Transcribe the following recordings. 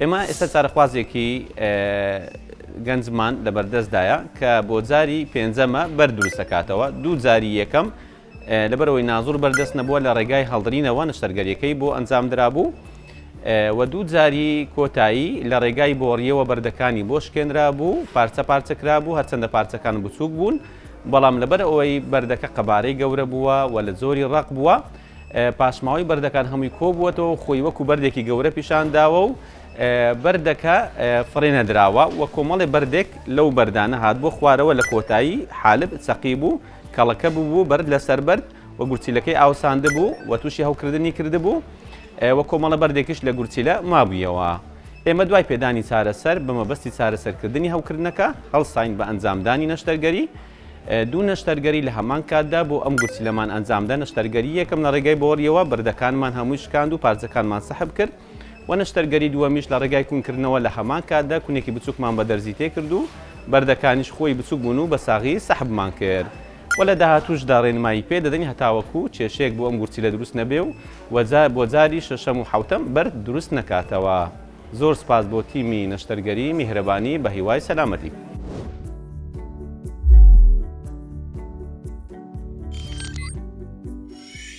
ئێمە ئێستا چارەخوازێکی گەنجمان لەبەردەستدایە کە بۆ جاری پێنجەمە بەرد دروست دەکاتەوە، دوو جاری یەکەم لەبەرەوەی نازوور بەردەست نەبووە لە ڕێگای هەڵدرینەوە نەشتەرگەریەکەی بۆ ئەنجام درابوو و دوو جاری کۆتایی لە ڕێگای بۆڕیەوە بەردەکانی بۆ شکێنرا بوو پارچە پارچەکرا بوو هەرچەندە پارچەکان بچووک بوون بەڵام لەبەر ئەوەی بەردەکە قەبارەی گەورە بووە و لە زۆری ڕق بووە پاشماوەی بەردەکان هەمووی کۆبووەتەوە و خۆی وەکو بەردێکی گەورە پیشان داوە و بەردەکە فڕێ نەدراوە و کۆمەڵی بەردێک لەو بەردانە هات بۆ خوارەوە لە کۆتایی حالب سەقی بوو کەڵەکە ببوو بەرد لەسەر بەرد و گورچیلەکەی ئاوساند بوو و تووشی هەوکردنی کردبوو و کۆمەڵە بەردێکیش لە گورچیلە مابوویەوە. ئێمە دوای پێدانی چارەسەر بە مەبەستی چارەسەرکردنی هەوکردنەکە هەڵساین بە ئەنجامدانی نەشتەرگەری، دوو نەشتەرگەری لە هەمان کاتدا بۆ ئەم گورچیلەمان ئەنجامدا، نەشتەرگەری یەکەم لە ڕێگای بۆریەوە بەردەکانمان هەمووی شکاند و پارچەکانمان سحب کرد و نەشتەرگەری دووەمیش لە ڕێگای کونکردنەوە لە هەمان کاتدا کونێکی بچووکمان بە دەرزی تێکرد و بەردەکانیش خۆی بچووک بوون و بە ساغی سحبمان کرد و لە داهاتووشدا ڕێنمایی پێ دەدەین هەتاوەکو کێشەیەک بۆ ئەم گورچیلە دروست نەبێ و بۆ جاری شەشەم و حەوتەم بەرد دروست نەکاتەوە. زۆر سپاس بۆ تیمی نەشتەرگەری میهرەبانی بەهیوای سەلامەتی.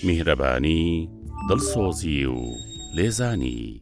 میهرەبانی، دڵسۆزی و لێزانی.